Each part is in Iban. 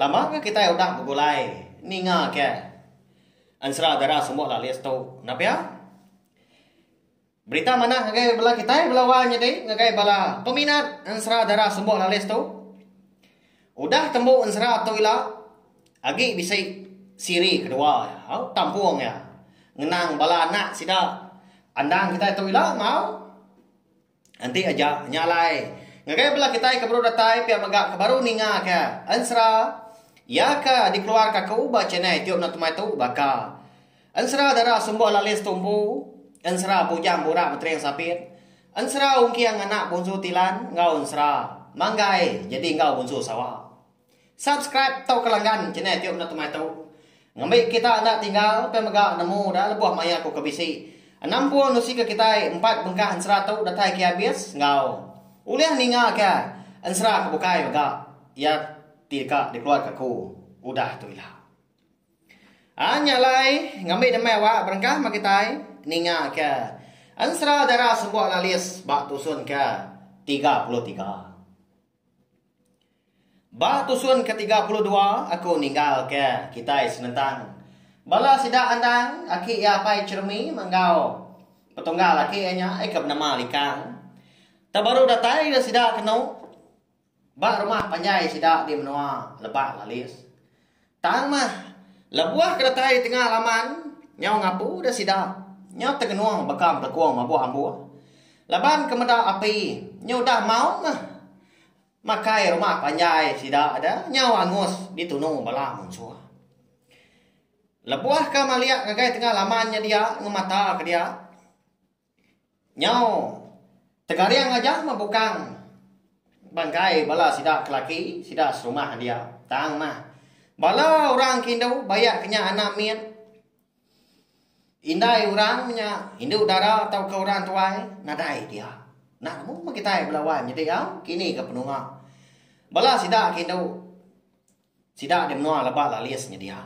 Lama ke kitai udah begulai ninga ke ensera dara semua lalis tu nah pia berita manah ngagai bala kitai bala wang nyadi ngagai bala peminat ensera dara semua lalis tu udah tembu ensera tu ila agi bisi siri kedua au tampung iya ngenang bala anak sida andang kitai tu ila mau. Enti aja nya alai. Ngagai bela kitai ke baru datai pia mega ke baru ninga ke ensera iya ke dikeluar ka aku ba channel youtube na temai tu baka ensera dara sumbo lalis tumpu, ensera bujang burak betering sabit, ensera ungking anak bunsu tilan enggau ensera manggai jadi enggau bunsu sawa. Subscribe tauka langgan channel tu enda temai tu. Ngembi kita enda tinggal ukai mega nemu dah lebuh maya aku ke bisi. Enam pun usi ke kitai empat bengkah ensera tu datai ke abis enggau. Ulih ninga ke ensera ke bukai mega iya ti deka dikeluar ke aku udah tu ila. A nya alai ngembi demai awak berengkah meh kitai ninga ke ensera dara sembok lalis ba tusun ke tiga puluh tiga. Ba tusun ke tiga puluh dua aku ninggalka kitai senentang. Bala sida andang aki iya apai Chermi enggau petunggal aki iya nya ai ke benama Likang. Tau baru datai ira sida kenu ba rumah panjai sida di menua Lebak Lalis. Tang mah, lebuh ke datai tengah laman, nyau ngapu deh sida, nyau tengenung baka melekung mabuh ambu. Laban ke meda api, nyau udah maung mah. Makai rumah panjai sida de nyau angus ditunu bala munsuh. Lebuh ke malik ngagai tengah laman nya dia ngemata ke dia. Nyau Tegaring aja meh bukang bangkai bala sida ke laki sida serumah dia. Tang mah, bala orang ke indu bayak ke nya anak mit, indai orang nya, indu dara tauka orang tuai nadai dia. Enda nemu meh kitai bela wai menyadi au, kini ke penunga bala sida ke indu. Sida di menua leba lalis nyedia.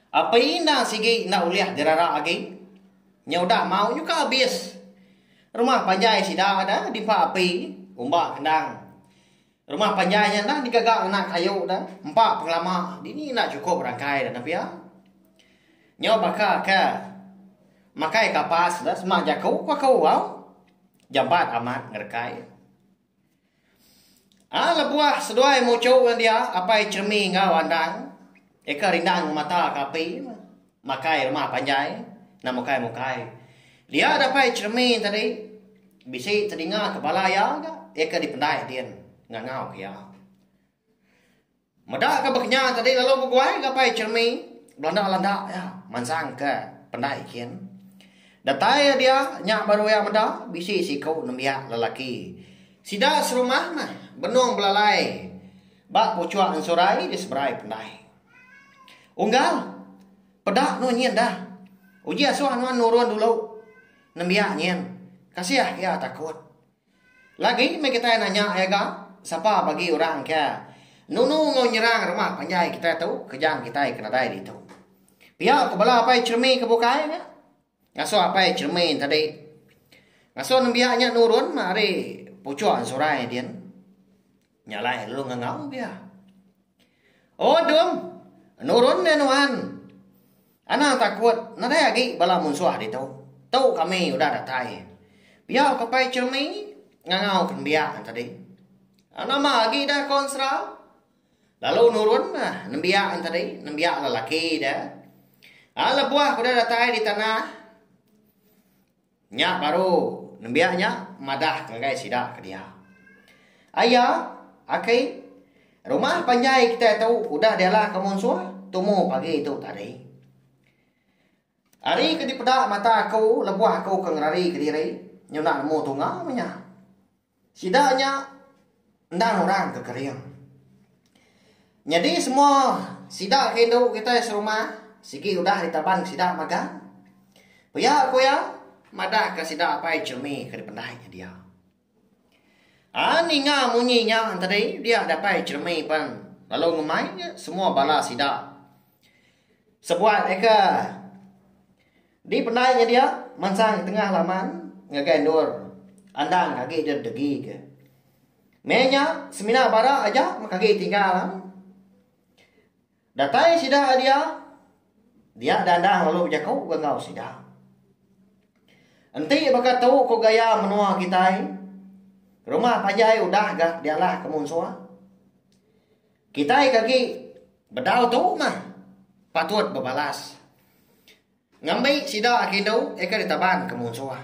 Api enda sigi enda ulih dirara agi. Nya udah mau nyuka abis. Rumah panjai sida da diempa api umba kendang. Rumah panjai nya enda digaga ngena kayu da empa pengelama dini enda chukup rangkai da nepia. Nyau baka ke makai kapas da sema jaku ku aku au jampat amat ngerekai. Aa lebuh seduai muchu ngan dia apai Chermi enggau Andang eka rindang ngemata ka api makai rumah panjai enda mukai mukai. Dia da apai Chermi tadi bisi telinga ke bala iya ga iya ke dipendai din ngangau ke iya. Meda ke baka nya tadi lalu beguai ngapai Chermy belanda landa iya mansang ke pendai gin. Datai iya dia nya baru iya meda bisi siku nembiak lelaki. Sida serumah meh benung belalai ba puchuk ensurai di seberai pendai. Unggal peda no nyin da uji asuh nuan nurun dulu nembiak nyin kasih iya takut. Lagi meh kitai nanya iya ga, sapa bagi orang ke nunu enggau nyerang rumah panjai kitai tu kejang kitai ke nadai ditu. Pia ku bala apai Chermy ke bukai nya. Ngasuh apai Chermy tadi ngasuh nembiak nya nurun meh ari puchok Zorai din. Nya alai lalu ngangau pia. Oh Dum, nurun nya nuan. Anang takut nadai agi bala munsuh ditu. Tu kami udah datai. Pia ke Pai Chirmi ngangau ke nembiak entadi. Nama agi dah ko ensera? Lalu nurun nah nembiak entadi, nembiak lelaki dia. Ah lebuh udah datai di tanah. Nya baru nembiak nya madah ngagai sida ke dia. Ai iya, Aki, rumah panjai kitai tu udah dialah ke munsuh tumu pagi tu tadi. Ari ke dipeda mata aku lebuh aku ke ngerari kediri nyunak nemu tunga meh nya. Sida nya endang orang ke kering. Nyadi semua sida ke indu kitai serumah sigi udah ditaban sida magang. Pia ku iya madahka sida apai Chumi ke dipendai nya dia. Ai ninga munyi nya tadi dia datai Chumi pan lalu ngemai semua bala sida sebuai ka Di pendai nya dia, mansang tengah laman ngagai endur Andang agi deh degi ke. Meh nya, semina bara aja meh agi tinggal am. Datai sida ari dia, dia deh Andang lalu bejaku ke enggau sida. Enti baka tu ko gaya menoa kitai, rumah panjai udah ga dialah ke munsoh. Kitai ke agi bedau tu mah patut bebalas ngambi sida agi endu eka ditaban ke munsuh.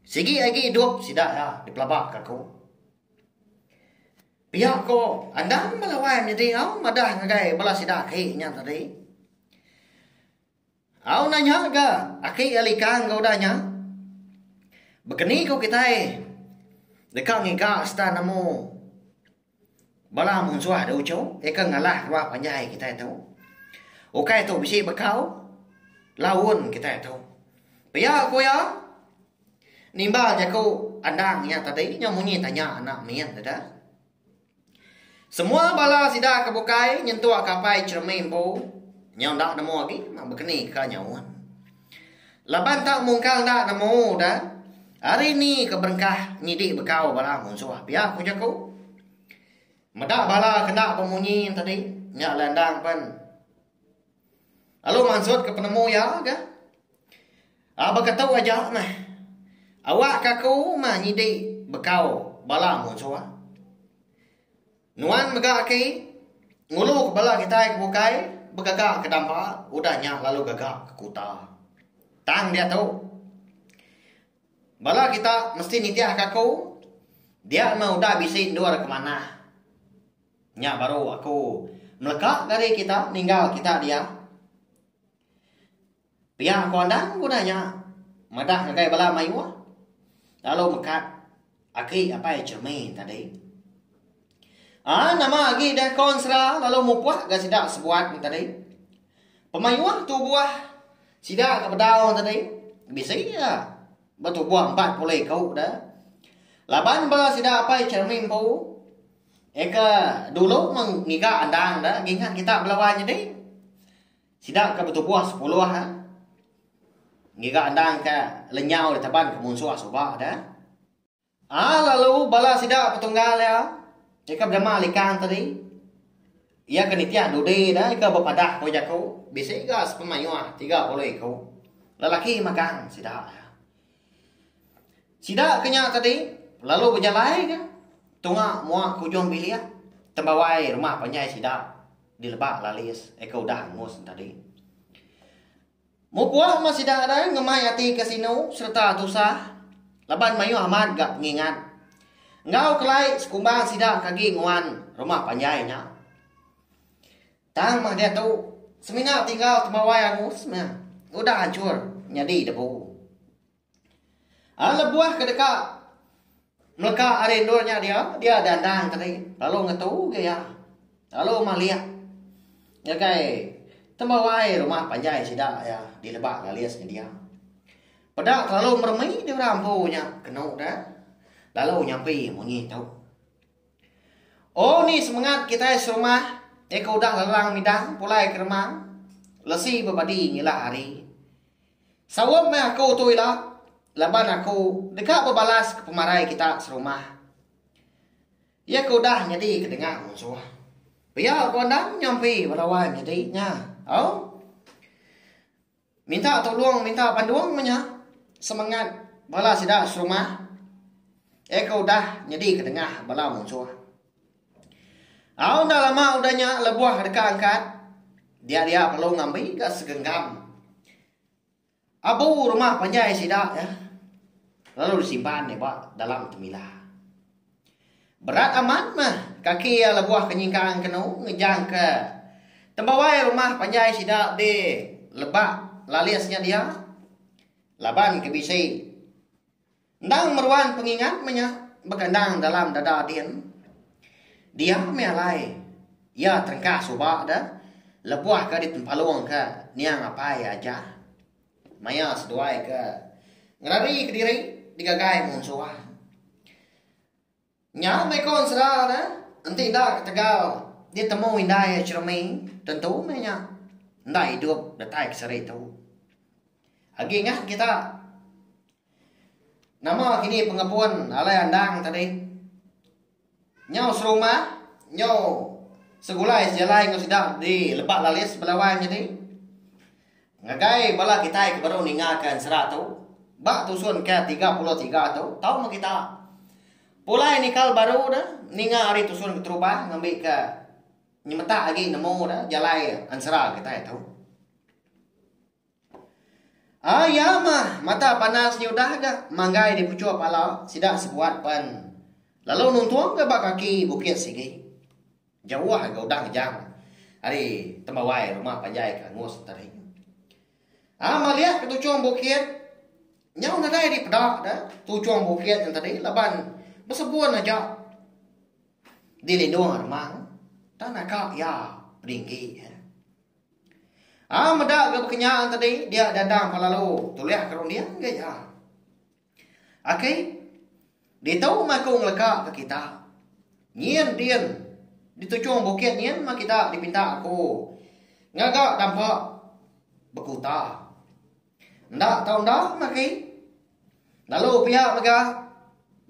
Sigi agi idup sida iya dipelabaka aku. Pia ko endang ba lawan nyadi au madah ngagai bala sida aki nya tadi. Au nanya ga aki iya likang ga udah nya. Bekeni ko kitai deka ngiga serta nemu. Bala munsuh da uchu ika ngalah keluar panjai kitai tu. Ukai tu bisi bekau laun kitai tu. Pia ku iya nimba jaku andang iya tadi nya munyi tanya anak min deda. Semua bala sida ke bukai nyentuk ke apai Cheremie empu nya enda nemu agi bekeni ka nyaun. Laban tau mungkang enda nemu udah, ari ni ke berengkah nyidi bekau bala munsuh pia ku jaku. Meda bala ke enda bemunyi enti adi nya alai endang pen lalu mansut ke penemu iya ga. A baka tu aja meh awak ke aku meh nyidi bekau bala munsuh. Nuan mega agi ngulu ke bala kitai ke bukai begaga ke damba udah nya lalu gaga ke kuta. Tang diatu, bala kita mesti nitihka aku dia meh udah bisi endur ke manah. Nya baru aku meleka ke ari kita ninggal kita dia. Pia ko andan ku nanya madah ngagai bala mayuh lalu mekat agi apai Jeremy tadi. Ah nama agi deh ko ensera lalu mupuh ga sida sebuat ni tadi. Pemayuh tubuh sida ke bedau tadi bisi ga betubuh 40 iku deh. Laban bala sida apai Jeremy empu Eka dulu meng ngiga andang dah ngingat kita belawa nyadi. Sida ke betubuh sepuluh ngiga endang ke lenyau iya teban ke munsuh suba deh. Aa lalu bala sida betunggal iya iya ke bedema likang tadi iya ke nitih dudi deh iya ke bepadah ku jaku bisi ga sepemayuh tiga puluh iku lelaki magang sida. Sida ke nya tadi lalu bejalai ka tunga mua ke ujung bilik tembawai rumah panjai sida dileba lalis eka udah angus nya tadi. Mupuk mah sida dai ngemai ati ke sinu sereta tusah laban mayuh amat ga pengingat enggau kelai sekumbang sida ke agi nguan rumah panjai nya. Tang meh diatu, semina tinggal temawai aku semina udah anchur nyadi debu. A lebuh ke deka meleka ari endur nya dia, dia dandang tadi lalu ngetu ugai iya. Lalu malik ngagai temawai rumah panjai sida iya di Lebak Galis nya dia. Peda terlalu meremi di orang empu nya kenu deh lalu nyampi munyi tu. Oh ni semengat kitai serumah iya ke udah lerang midang pulai ke remang lesi bepadi nyilak hari. Saup meh aku tu ila laban aku deka bebalaska pemarai kita serumah iya ke udah nyadi ke dengah munsuh. Pia ku endang nyampi bala wai nyadi nya. Au. Minta tulung minta bandung menya semengat bala sida serumah iya ke udah nyadi ketengah bala munsuh. Au enda lama udah nya lebuh deka angkat dia-dia perlu ngambi ga segenggam abu rumah panjai sida iya lalu disimpan ba dalam temila. Berat amat meh kaki iya lebuh ke nyingkang kenu ngejangka tembawai rumah panjai sida be lebak lalis nya dia laban ke bisi endang meruan pengingat meh nya baka endang dalam dada din. Dia meh alai iya terengkah suba de lebuh ke ditempalung ke niang apai aja. Maya seduai ke ngerari kediri digagai munsuh. Nya meko ensera ne enti enda ketegal ditemu indai Cheremi tentu meh nya enda idup datai ke seri tu. Agi ngah kita nama kini pengepun alai andang tadi. Nyau serumba nyau segulai sejalai enggau sida di Lebak Lalis Belawan nyadi ngagai bala kitai ke baru ninggalka ensera tu ba tusun ke-33 tu tau meh kita pulai nikal baru ne ninga ari tusun keterubah ngambika nyemetak agi nemu ne jalai ensera kitai tu. Ah iya mah, mata panas nya udah ga manggai di puchuk pala sida sebuat pen lalu nuntung ga ba kaki bukit sigi. Jauh ga udah ngejang ari tembawai rumah panjai ke angus entering. Ah malik ke tuchung bukit nyau nadai di peda da tuchung bukit nya tadi laban besebun aja di lindung remang tang naka iya peninggi. Au meda ga bekenya tadi dia dadang pa lalu tulih ke runding ga iya. Aki ditu meh aku ngeleka ke kita. Nyin din dituchung bukit nyin meh kita dipinta aku ngaga dampa bekuta. Enda tau enda meh aki. Lalu pia mega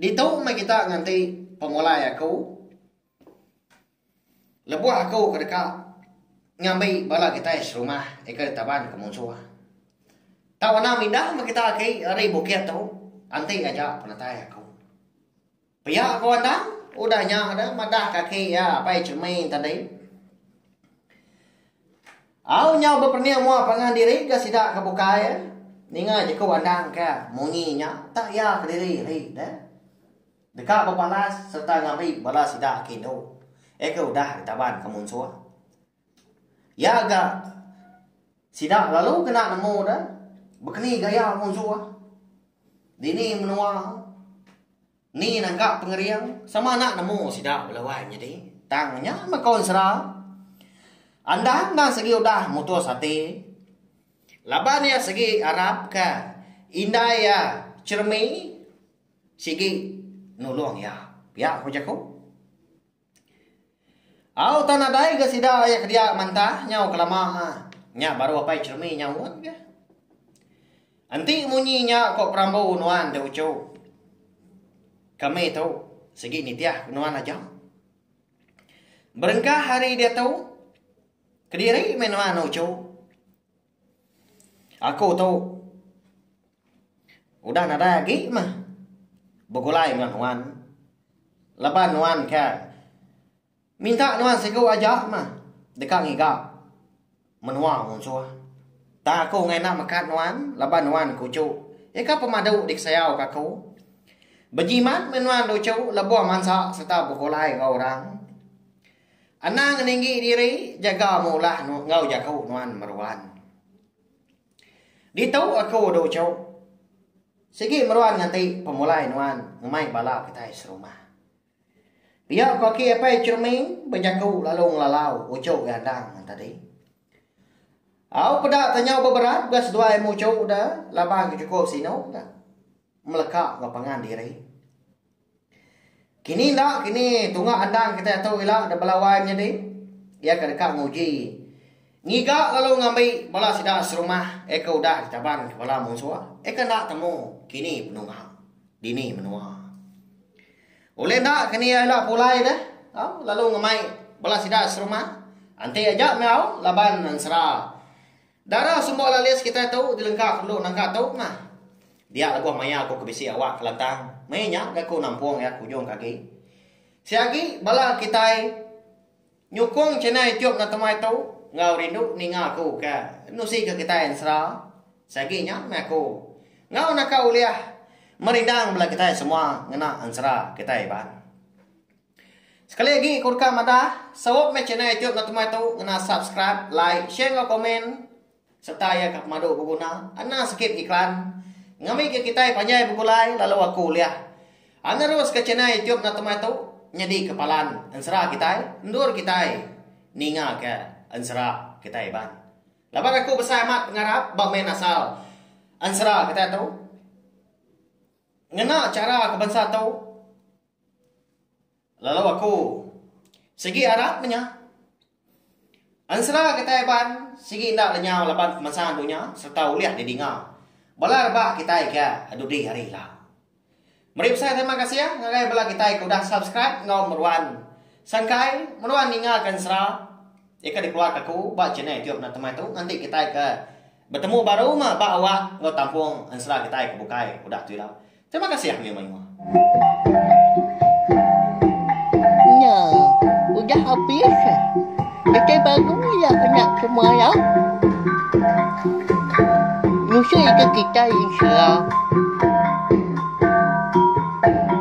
ditu meh kita nganti pemulai aku. Lebuh aku ke deka ngambi bala kitai serumah ika ditaban ke munsuh. Tau anang mindah meh kita aki ari bukit tu enti aja penatai aku. Pia ko anang udah nya deh madah kaki iya apai Chemin tadi. Au nyau bepening mua pangan diri ke sida ke bukai ninga jeku anang ke munyi nya tak iya kediri ari deh. Deka bepalas sereta ngambi bala sida ke indu, ke udah ditaban ke munsuh. Iya ga sida lalu kena nemu da bekeni gaya munsuh, dini menua, ni nangkap pengering sama enda nemu sida bela wai nyadi. Tang nya meko ensera, Andan enda segi udah mutus ati laban iya segi arapka indai iya cheremi. Sigi nulung iya. Pia ku jaku. Au tan nadai ga sida iya ke dia mantah nyau kelama nya baru apai Chermi nyaut ga. Enti munyi nya ko perambu nuan da uchu. Kami tu sigi nitih ku nuan aja. Berengkah hari diatu kediri meh nuan uchu. Aku tu udah nadai agi mah begulai enggau nuan laban nuan ke minta nuan siku aja mah deka ngiga menua munsuh. Tang aku enda ngena mekat nuan laban nuan kuchu nyengka pemadu dikesayau ka aku. Bejimat meh nuan luchu lebuh mansa sereta begulai enggau orang. Anang ninggi diri jaga meulah enggau jaku nuan meruan. Ditu aku du cu. Sigi meruan nganti pemulai nuan ngemai bala kitai serumah. Pia ku aki apai Chermi bejaku lalu ngelalau uchu iya endang tadi. Au peda tanyau beberat bega seduai mu uchu da laban ke chukup sinu ka meleka enggau pangan diri. Kini enda kini tunga andan kitai tu ila da belawai menyadi iya ke deka nguji ngiga lalu ngambi bala sida serumah iya ke udah ditaban ke bala munsuh iya ke enda temu kini penunga dini menua. Ulih enda kini iya ila pulai deh lalu ngemai bala sida serumah enti aja meh au laban ensera Dara semua lalis kitai tu dilengka pendu nangka tu mah. Dia lebuh maya aku ke bisi awak Kelantang, meh nya ga aku nampung iya ke ujung ke agi. Si agi bala kitai nyukung channel YouTube Enda Temai tu enggau rindu ninga aku ke nusi ke kitai ensera. Si agi nya meh aku enggau naka ulih merindang bala kitai semua ngena ensera kitai iban. Sekali agi ku deka madah, sup meh channel youtube enda temai tu ngena subscribe, like, share enggau komen serta iya ka pemadu beguna. Anang sikit iklan. Ngambika ke kitai panjai begulai lalu aku ulih a neruska channel youtube enda temai tu nyadi ke palan ensera kitai endur kitai ninga ke ensera kitai iban. Laban aku besai amat pengarap ba main asal ensera kitai tu ngena chara ke bansa tu. Lalu aku. Sigi arap menya. Ensera kitai Iban sigi enda lenyau laban pemansang dunya sereta ulih didinga bala rebak kitai ke dudi hari ila. Meri besai terima kasih ngagai bala kitai ke udah subscribe enggau meruan sangkai meruan ninga ke ensera ke dikeluarka aku ba channel YouTube Natemai tu nganti kitai ke Betemu baru meh ba awak enggau tampung ensera kitai ke bukai udah tu ila. Terima kasih ah menua-menua. Nya udah habis eh. Kitai baru ila enda ke maya. Ngusui ke kitai ensera.